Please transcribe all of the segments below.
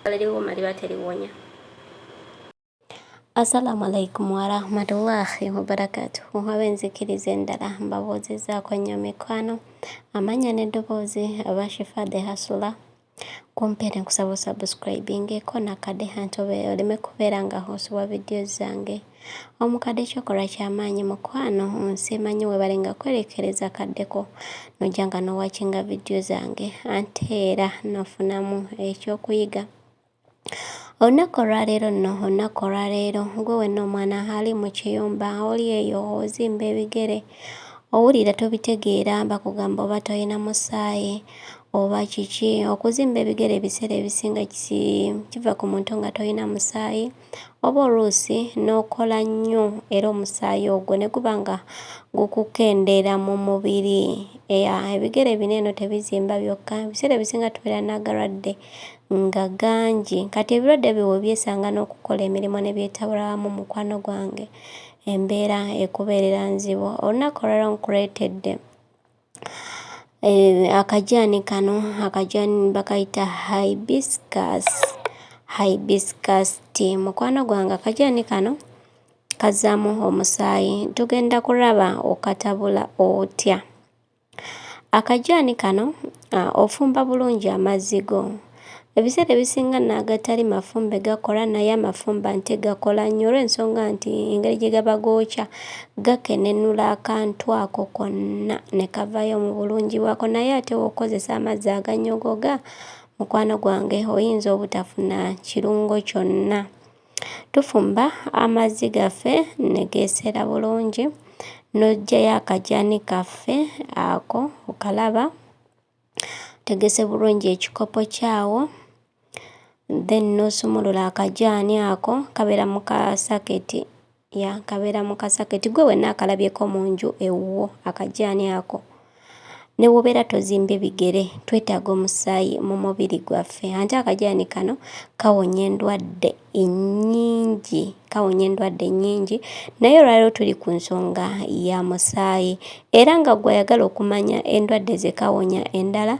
Kale liwuma liba teliwonya. Assalamu alaikum warahmatullahi wabarakatuhu ab'enzikiriza endala mbabuuzizzaako nnyo mikwano amanya n'eddoboozi aba shifa de hasula kumpeere nkusaba osubscribingeko nakade hantobe oleme kubeera nga osubwa vidiyo zange omukadde kyokola kyamaanyi mukwano nsimanyi webale nga kwerekereza kaddeko nojja nga nowakinga vidiyo zange ante era nofunamu ekyokuyiga Olunaku olwaleero nno, olunaku olwaleero, gwe wenna omwana ali mu kiyumba, oli eyo ozimba ebigere, owulira tobitegeera, bakugamba oba tolina musaayi, oba kiki, okuzimba ebigere ebiseera ebisinga kisi, kiva ku muntu nga tolina musaayi, oba oluusi n'okola nnyo era omusaayi ogwo ne guba nga gukukendeera mu mubiri. Eya, ebigere bino eno tebizimba byokka, ebiseera ebisinga tubeera n'agalwadde nga gangi kati ebirwadde biwe byesanga n'okukola emirimu ne byetabula wamu mukwano gwange embeera ekubeerera nzibu olunaku olwalero nkuleetedde eh, akajaani kano akajaani bakayita hibiscus hibiscus tea mukwano gwange akajaani kano kazaamu omusaayi tugenda kulaba okatabula otya Akajaani kano ofumba bulungi amazzi go. Ebiseera ebisinga nno agatali mafumbe gakola naye amafumbe ate gakola nnyo olw'ensonga nti engeri gye gaba gookya gakenenula akantu ako konna ne kavaayo mu bulungi bwako naye ate w'okozesa amazzi agannyogoga, mukwano gwange oyinza obutafuna kirungo kyonna. Tufumba amazzi gaffe ne geeseera bulungi n'oggyayo akagyani kaffe ako okalaba, otegese bulungi ekikopo kyawo then n'osumulula akagyani ako kabeera mu kaasaketi. Ya nkabeera mu kasaketi gwe wenna akalabyeko mu nju ewuwo akajaani ako ne wobeera tozimbe bigere twetaaga omusaayi mu mubiri gwaffe ante akajaani kano kawonya endwadde ennyingi kawonya endwadde ennyingi naye olwaliro tuli ku nsonga ya musaayi era nga gwayagala okumanya endwadde ze kawonya endala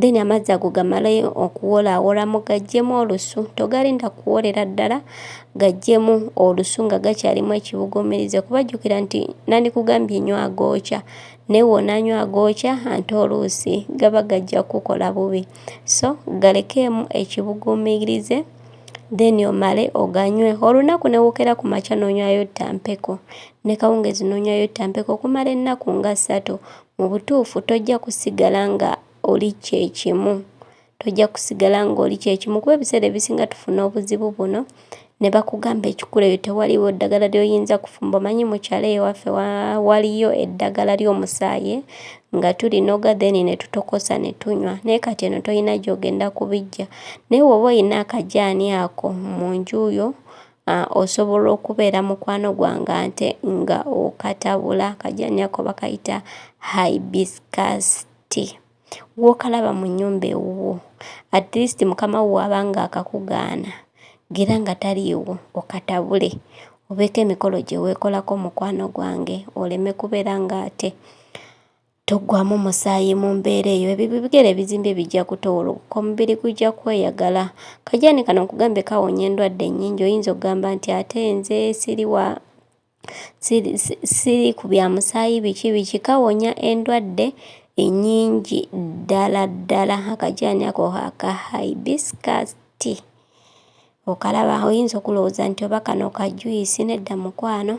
then amazzi ago gamale okuwola awolamu gajjemu olusu togalinda kuwolera ddala gajjemu olusu nga gakyalimu ekibugumirize kuba jjukira nti nandikugambye enyo agookya naye wonaanywa agookya ante oluusi gaba gajja kukola bubi so galekeemu ekibugumirize then omale oganywe olunaku newokera ku makya nonywayo ttampeko ne kawungezi nonywayo ttampeko okumala ennaku nga ssatu Mu butuufu, tojja kusigala nga oli kye kimu. Tojja kusigala nga oli kye kimu kuba ebiseera ebisinga tufuna obuzibu buno ne bakugamba ekikula eyo tewaliwo ddagala ly'oyinza kufumba. Omanyi mukyala eyo waffe waliyo eddagala ly'omusaayi nga tulinoga then ne tutokosa ne tunywa naye kati eno tolina gy'ogenda kubiggya. Naye woba olina akajaani ako mu nju yo Uh, osobola okubeera mukwano gwange ante nga okatabula kajani ako bakayita hibiscus tea gwokalaba mu nyumba ewuwo at least mukama wo waba nga akakugaana gira nga taliiwo okatabule obeeko emikolo gye weekolako mukwano gwange oleme kubeera nga ate Toggwaamu musaayi mu mbeera eyo, ebyo bigere ebizimbye bijja kutowolokoka, omubiri gujja kweyagala. Kajaani kano nkugambye kawonya endwadde nnyingi, oyinza okugamba nti ate nze siri wa siri ku bya musaayi biki biki, kawonya endwadde ennyingi ddala ddala akajaani ako aka hibiscus tea. Okalaba oyinza okulowooza nti oba kano ka juyisi nedda mukwano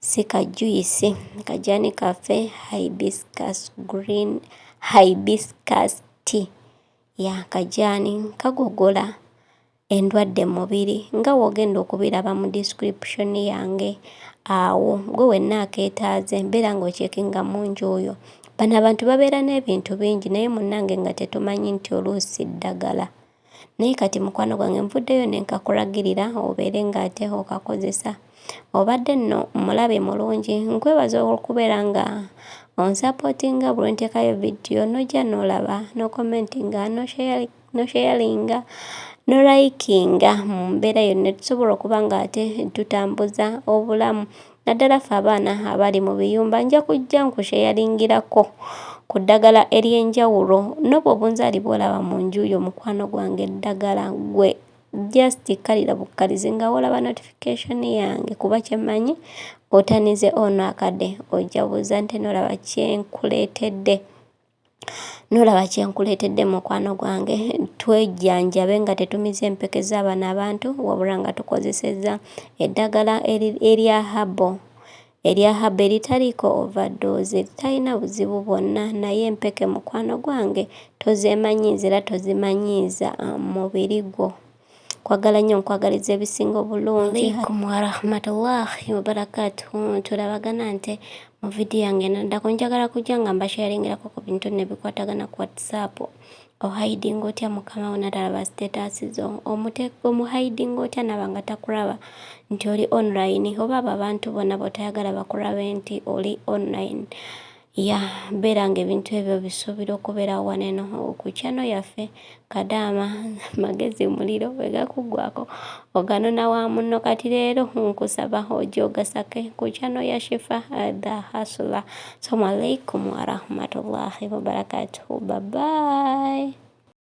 si ka juyisi kajani kaffe hibiscus green hibiscus tea ya kajani kagogola endwadde mu mubiri nga w'ogenda okubiraba mu description yange awo gwe wenna akeetaaze mbeera ng'okyekinga mu nju oyo bano abantu babeera n'ebintu bingi naye munnange nga tetumanyi nti oluusi ddagala. naye kati mukwano gwange nvuddeyo ne nkakulagirira obeere ng'ate okakozesa obadde nno mulabe mulungi nkwebaza okubeera nga onsapootinga buli nteekayo vidiyo n'ojja n'olaba n'okomentinga nosheyalinga nolayikinga mu mbeera yonna tusobola okuba ng'ate tutambuza obulamu naddala ffe abaana abali mu biyumba nja kujja nkusheyaringirako ku ddagala ery'enjawulo n'obwo obunzaali bw'olaba mu nju yo mukwano gwange eddagala gwe just kkalira bukkalizi nga wolaba notification yange kuba kyemmanyi otanize ono akade ojabuza nti nolaba kyenkuleetedde Nolaba kye nkuleetedde mukwano gwange, twejjanjabe nga tetumiza empeke za bano abantu wabula nga tukozesezza eddagala erya herbal erya herbal eritaliiko overdose, eritalina buzibu bwonna naye empeke mukwano gwange tozeemanyiiza era tozimanyiiza mubiri gwo. Kwagala nnyo nkwagaliza ebisinga obulungi. Alaikum wa rahmatullahi wa barakatuhu. Tulabagana nte mu video yange naddako njagala kujja nga mbasharingirako ku bintu ne bikwatagana ku WhatsApp. Ohiding otya mukama wo natalaba status zo. Omuteeko mu hiding otya naba nga takulaba nti oli online. Oba abo abantu bona botayagala bakulabe nti oli online. Ya bera nga ebintu ebyo bisubira okubera waneno ku channel yaffe kadaama magezi muliro wegakugwako oganona wa munno kati leero nkusaba ojogasake ku channel ya Shifa eh, the hustler. Assalamu alaikum warahmatullahi wabarakatuhu. Bye bye.